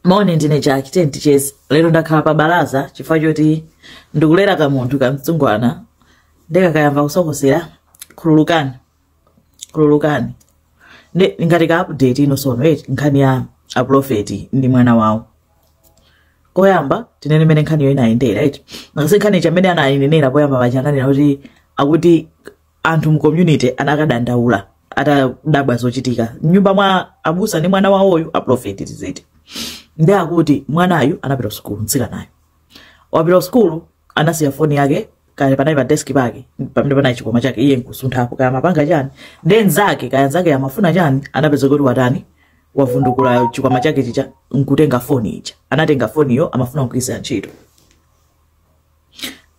moni ndine jack tiye ticheze lero ndakhala pa balaza chifukwa choti ndikulera kamunthu kamtsungwana ndikakayamba kusokosera khululukani khululukani Ndi- ngati ka update ino tsono eti nkhani ya aprofeti ndi mwana wawo koyamba tinene mmene nkhaniyo inayendera eti ngati nkhani ija mmene anayinenera poyamba paja ananena kuti akuti anthu mu community anakadandaula atadabwa zochitika mnyumba mwa abusa ndi mwana wawoyu aprofeti tiziti nde akuti mwanayo anapita ku sukulu mtsikanayo wapita ku sukulu anasiya foni yake kale panali pa deski pake pamene panali chikwama chake iye nkusunthapo kaya amapanga chani ndi nzake kaya nzake amafuna chani anapeza kuti watani wavundukula chikwama chake chija nkutenga foni ija anatenga foniyo amafuna kugwiritsa ntchito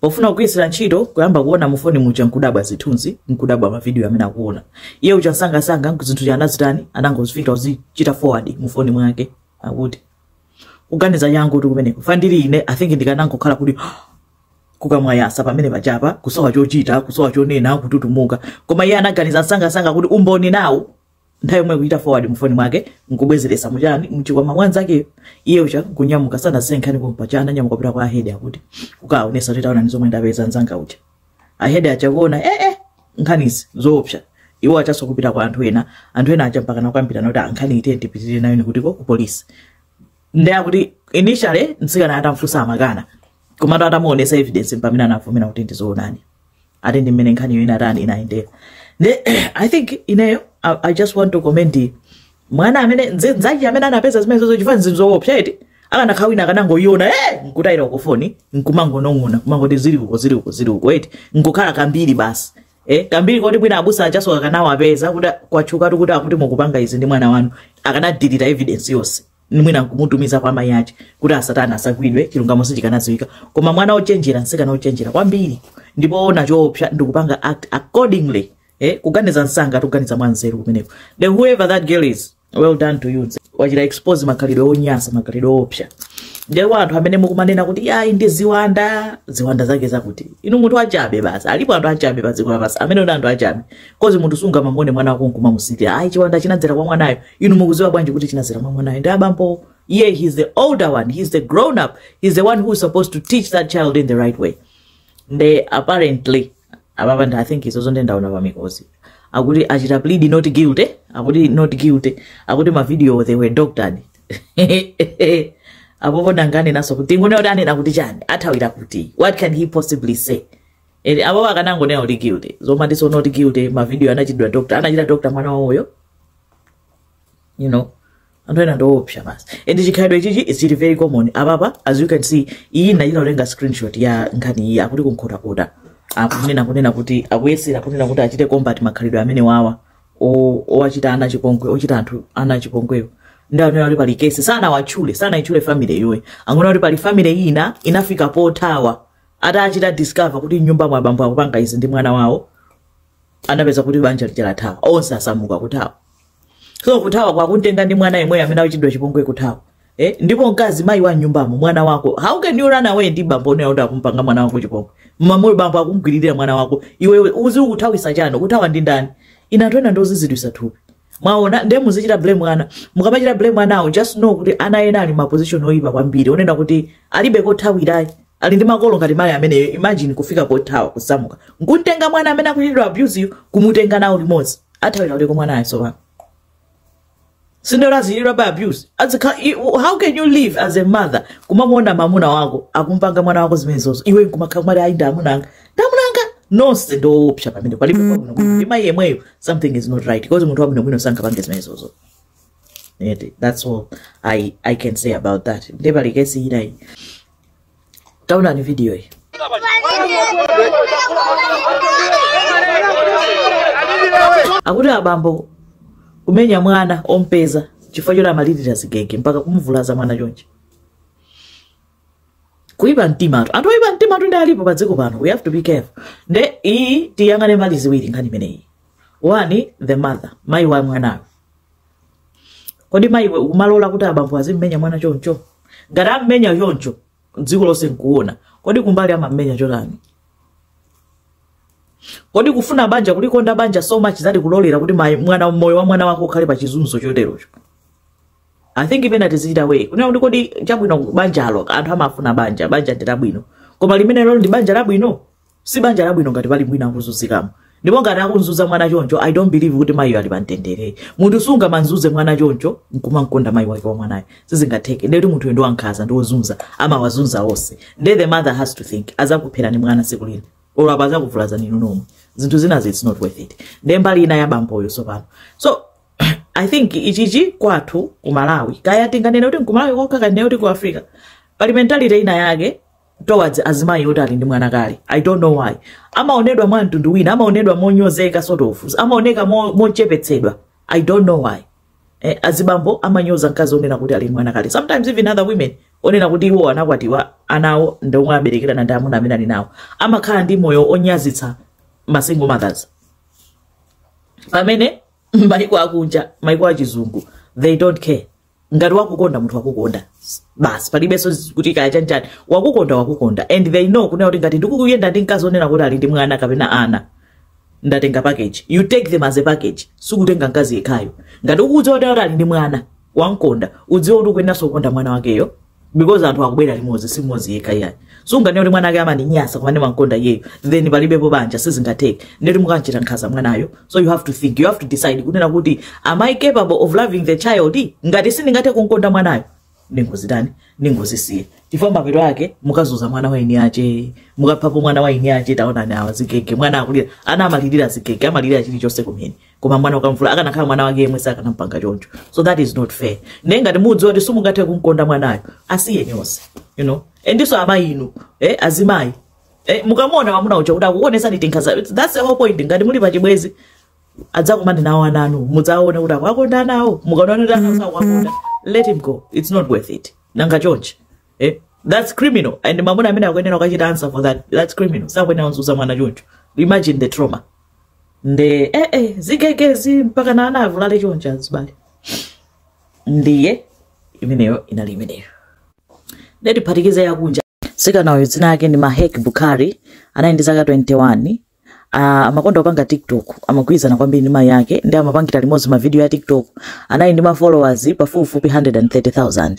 pofuna kugwiritsira ntchito kuyamba kuona mu foni muja nkudabwa zithunzi nkudabwa mavidiyo amene akuona iye uja msangasanga zinthu zija anazitani anangozifika kuzichita forward mu foni mwake akuti kuganiza changu kuti kumeneko fandiri ine i think ndikanangokhala kuti kukamwayasa pamene paja kusowa chochita kusowa chonena kututumuka koma iye anaganiza msangasanga kuti umboni nawo nthawi yomwe kuchita forward mufoni mwake nkubwezeretsa muchani mchikwama mwanzakeyo iye uja kunyamuka sanasiye nkhani pompaja ananyamuka kupita kwa ahedi akuti kukaonesa kuti taona ndi zomwe ndapeza nzanga uja ahedi aja kuona eh eh nkhanizi zoopsa iwo ajanso kupita kwa anthu ena anthu ena aja mpaka nkukambirana kuti a nkhani iyi tipitirire nayo ndi kuti ku polisi nde akuti initially mtsikana atamfunsa amakana komatu atamuonesa evidence mpamene anavomera kuti ndi zoonadi ati ndi mmene nkhaniyo inatani inayendera nde i think ineyo I, i just want to comment the- mwana amene nze- nzake amene anapeza zimenezozo chifukwa ndi zinthu zoopsa eti akanakhala wina akanangoyiona e nkutayira uko foni nkumangonong'ona kumangoti zili uko zili uko zili uko eti nkukhala kambiri basi Eh, kambiri koti mwina abusa ajanso akanawapeza kuti kwatchuka kuti akuti mukupanga izi ndi mwana wanu akanadilita evidence yonse ndi mwina nkumutumiza kwa mayi ache kuti asatani asagwidwe chilungamo sichikanadziwika koma mwana ochenjera mtsikana ochenjera kwambiri ndi poona choopsa ndikupanga act accordingly eh, kuganiza msanga kuganiza mwa nzeru kumeneko the whoever that girl is well done to you wachita expose makhalidwe onyasa makhalidwe oopsa nde anthu amene mukumanena kuti yayi ndi ziwanda ziwanda zake zakuti inu munthu achabe basi alipo anthu achabe pa dziko lapansi amene ndi anthu achabe koti munthu sungamangone mwana wako nkumamusirira ayi chiwanda chinadzera kwa mwanayo inu mukuziwa bwanji kuti chinadzera mwamwanayo ndi abambo yeah he's the older one he's the grown up he's the one who's supposed to teach that child in the right way nde apparently ababa i think izo zo nde ndaona pa mikozi akuti achita plead not guilty akuti not guilty akuti mavidiyo they were doctored apapa ndinaganenanso kuti ndione kuti anena kuti chani athawira kuti what can he possibly say and apapa akanangonena kuti guilty zomatinso not guilty mavidiyo anachitidwa doctor anachita doctor mwana wawoyo you know anthu ena ndiopsa basi and chikhalidwe ichichi is really very common apapa as you can see iyi ndachita kutenga screenshot ya nkhani iyi akuti kunkhotakota akunena kunena kuti akuyesera kunena kuti achite combat makhalidwe amene wawa o- owachita ana chipongwe ochita anthu ana achipongwewo ndi amene ali pali kesi sanawatchule sanaitchule family iyoyi angonena kuti pali family ina inafika pothawa atachita discover kuti mnyumba mwa abambo akupanga izi ndi mwana wawo anapeza kuti banja lija lathawa onse asamuka kuthawa so kuthawa kwake kumtenga ndi mwana yemweyo amene akuchitidwa chipongwe kuthawa eh? ndipo mkazi mayi wa mnyumbamo mwana wako how can you run away ndi bambo onena kuti akumpanga mwana wako chipongwe mwamunayo bambo akumgwiririra mwana wako iwe uzi ukuthawisa chani kuthawa ndi ndani ina anthu ena ndozizilitsa thupi mwaona ndiye muzichita blame ana mukamachita blame anawo just know kuti ana ena ali mma position oyipa kwambiri onena kuti alibe kothawira ali ndi makolo ngati mayi ameneyo imagine kufika pothawa kusamuka nkumtenga mwana amene akuchitidwa abuse yu kumutenga nawo limodzi athawira kuti ko mwanayo sopano sindero azichitidwabe abuse azikhala i- how can you live as a mother kumamuona mamuna wako akumpanga mwana wako zimenezozo iwe nkumakhala kumati ayi ndi amuna anga ndi amuna anga nonse ndi owopsa pamene palibe pabwino ndi mayi yemweyo something is not right because munthu wabwinobwino sangapange zimenezozo Eti, that's all I, i can say about that nde pali kesi ina iyi taonani video iyi akuti abambo kumenya mwana ompeza chifukwa choti amalirira zigege mpaka kumuvulaza mwana chonchi kuipa mtimatu anthu oipa mtimatu ndi alipo pa dziko pano we have to be careful nde iyi tiyang'ane mbali ziwiri nkhani imeneyi one the mother mayi wa mwanayo kodi mayiwe umalola kuti abambo azimmenya mwana choncho ngati ammenya choncho dziko lonse nkuona kodi kumbali amammenya chotani kodi kufuna banja kulikonda banja so much zati kulolera kuti mayi- mwana moyo wa mwana wako ukhale pa chizunzo choterocho I think pena tizichita weigh kunena kuti kodi chabwino banjalo anthu amafuna banja banja ndi labwino koma limenelolo ndi banja labwino si banja labwino ngati pali wina akuzunzikamo ndipo ngati akunzuza mwana choncho i don't believe kuti mayiyo ali pamtendere munthu sungamanzuze mwana choncho nkumamkonda mayi wake wa mwanayo sizingatheke ndeti munthuyo ndi wankhaza ndi wozunza amawazunza onse nde the mother has to think azakupherani mwana tsiku lina olo pena azakuvulazani inu nomwe zinthu zinazi it's not worth it nde mbali ina ya bamboyo sopano so i think ichichi kwathu ku malawi kaya tinganene kuti nkumalawi kokha kanene kuti ku africa pali mentality ina yake towards azimayi oti ali ndi mwana kale i don't know why amaonedwa mwa mtundu wina amaonedwa monyozeka sort of amaoneka mo- mochepetsedwa i don't know why eh, azibambo amanyoza mkazi onena kuti ali ndi mwana kale sometimes even other women onena kuti iwo anakwatiwa anawo ndi omwe aberekerana ndi amuna amene ali nawo amakhala ndi moyo onyazitsa masingle mothers pamene maiko akunja maiko achizungu they don't care ngati wakukonda munthu wakukonda basi palibenso kuti kaya chanchani wakukonda wakukonda and they know kunena kuti ngati ndikuyenda ndi mkazi onena kuti ali ndi mwana kapena ana ndatenga package you take them as a package sikutenga mkazi yekhayo ngati ukudziwa kuti ali ndi mwana wamkonda udziwa kuti ukuyendanso kukonda mwana wakeyo because anthu akubwera limodzi si mmodzi yekha iyayi sunganene kuti mwana ake amandinyasa koma ndimankonda iyeyo then palibepo banja sizingatheke ndeti mukanchita nkhaza mwanayo so you have to think you have to decide kunena kuti am i capable of loving the child ngati sindingathe kunkonda mwanayo ndingozitani ndingozisiye chifukwa mapeto ake mukazuza mwana wa eni ake mukaphapo mwana wa eni ake taonani awa zigege mwana akulira ana amalirira zigege amalirira chilichonse kumene koma mwana ukamvula akanakhala mwana wake yemwe sakanampanga choncho so that is not fair ndiye ngati mudziwa kuti simungathe kumkonda mwanayo asiyeni onse you know endiso amayi inu eh, azimayi eh, mukamona mwamuna uja kuti akukuonesani tinkhaza that's the whole point ngati muli pachibwezi adzakumane nawo ana anu mudzaone kuti akuwakonda anawo mukaona kuti ana sakuwakonda let him go it's not worth it nanga chonchi eh? that's criminal and mamuna amene akuyenera ukachita answer for that that's criminal sakuyenera kunzuza mwana choncho imagine the trauma nde eh, eh, zigegezi mpaka na anavulala choncho azibale ndiye imeneyo inali imeneyo nde tiphatikize yakunja mtsikanayo dzina yake ndi mahek bukhari anali ndi zaka 21 Uh, amakonda kupanga tiktok amagwirizana kwambiri ndi mayi yake nde amapangira limodzi mavidiyo ya tiktok anali ndi mafollowers pafupifupi 130000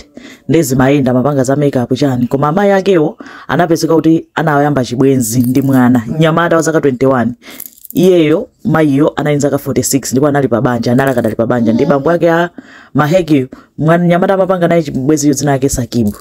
nde zimayenda amapanga za makeup chani koma amayi akewo anapezeka kuti anayamba chibwenzi ndi mwana mnyamata wa zaka 21 iyeyo mayiyo anali zaka 46 ndipo anali pa banja anali akadali pa banja ndi bambo ake a maheki mwana mnyamata amapanga naye chibwenzicho dzina ake sakibu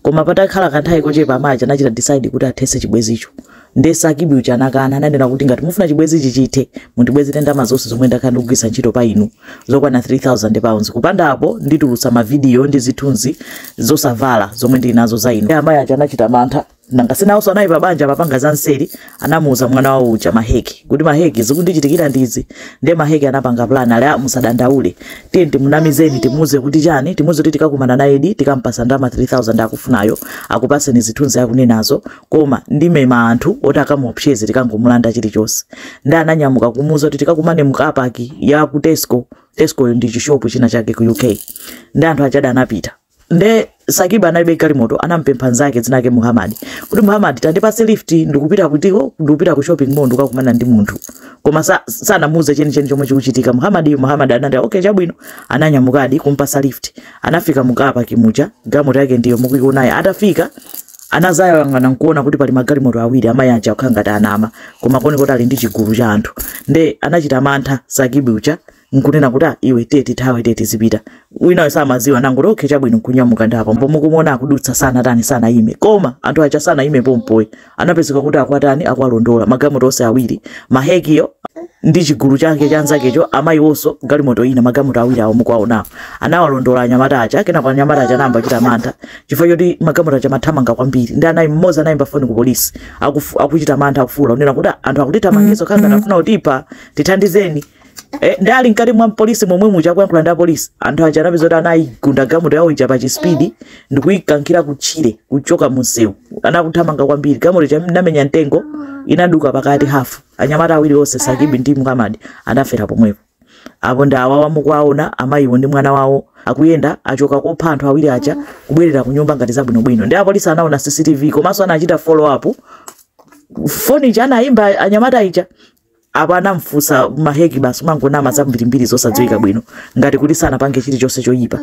koma patakhala kanthawi kochepa amayi anachita decide kuti athetse chibwenzicho Nde Sakibu uja anakana, ananena kuti, Ngati mufuna chibwenzichi chithe, mundibwezere ndalama zonse zomwe ndakhala ndikugwiritsa ntchito pa inu, zokwana £3,000. Kupanda apo, nditulutsa mavidiyo ndi zithunzi zosavala zomwe ndili nazo za inu. Nde amayi aja anachita mantha. Nanga si nawonso anali pabanja amapanga zamseri? Anamuuza mwana wawo uja, Maheki, kuti, Maheki, zikundichitikira ndi izi. Nde Maheki anapanga plan, ali, Ah, musadandaule. Tiyeni timunamizeni, timuuze kuti chani, timuuze kuti tikakumana naye, tikamupatsa ndalama 3,000 akufunayo, akupatseni zithunzi akunenazo, koma ndimemeza anthu oti akamuopseze tikangomulanda chilichonse nde ananyamuka kumuuza kuti tikakumane mu car park ya ku tesco tescoyo ndi chishopu china chake ku uk nde anthu ajadi anapita nde sakibu analibe galimoto anampempha nzake dzina lake muhamadi kuti muhamadi tandipase lift ndikupita ku tesco ndikupita ku shopping mall ndikakumana ndi munthu koma sa- sanamuuze chenicheni chomwe chikuchitika muhamadi muhamadi anati okay chabwino ananyamukadi kumpasa lift anafika mu car park muja galimoto yake ndiyo mukuionayo atafika anadzayang'ana nkuona kuti pali magalimoto awiri amayi aja akhala ngati anama koma koni kuti ali ndi chigulu cha anthu nde anachita mantha sakibi uja nkunena kuti "Ah, iwe tiye tithawe tiye tizipita winayo samaziwa anangoti okay chabwino nkunyamuka ndapo mpo mukumona akudutsa sanatani sanayime koma anthu aja sanayime pompoyi anapezeka kuti akuwatani akuwalondola magalimoto onse awiri mahekiyo ndi chigulu chake cha anzakecho amayiwonso galimoto ina magalimoto awiri awo mukuwaonawo anawalondola anyamata aja kenako anyamata aja anayamba kuchita mantha chifukwa choti magalimoto aja amathamanga kwambiri nde ana m'modzi anayimba foni ku polisi akufu- akuchita mantha akufuula kunena kuti "Ah, anthu akutithamangitsa ngati akufuna kutipha tithandizeni Eh, nde ali mkati mwa polisi momwe muja akuyankhula ndi apolisi anthu aja anapezeka kuti anayigunda galimoto yawo ija pa chi speed ndikuyikankhira kutchire kuchoka munsewu anakuthamanga kwambiri galimoto ija inamenya mtengo inaduka pakati hafu anyamata awiri onse sakibi ndi muhamadi anafera pomwepo Apo ndi awawa mukuwaona amayiwo ndi mwana wawo akuyenda achoka kopha anthu awiri aja kubwerera kunyumba ngati zabwinobwino. Nde apolisi anaona CCTV komanso anachita follow up foni ija anayimba anyamata aja apo anamfunsa maheki basi amangonama zambirimbiri zosadziwika bwino ngati kuti sanapange chilichonse choyipa.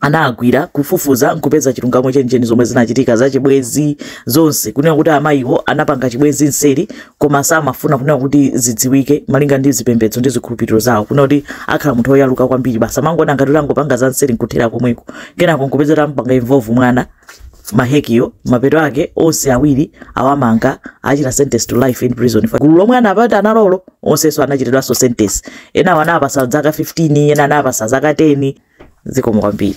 analimbikira kufufuza nkupeza chilungamo chenicheni zomwe zinachitika za chibwezi zonse kunena kuti amayiwo anapanga chibwezi nseri koma samafuna kunena kuti zidziwike malinga ndi zipembedzo ndi zikhulupiriro zawo kunena kuti akhala munthu oyaluka kwambiri basi amangoona ngati angopanga za nseri nkuthera komweko kenako nkupeza kuti amupanga involve mwana mahekiyo mapeto ake onse awiri awamanga achita sentence to life in prison Fa- gulu lomwe anapita nalolo onsenso anachitidwanso sentence ena anawapatsa zaka 15 ena anawapatsa zaka 10 zikomo kwambiri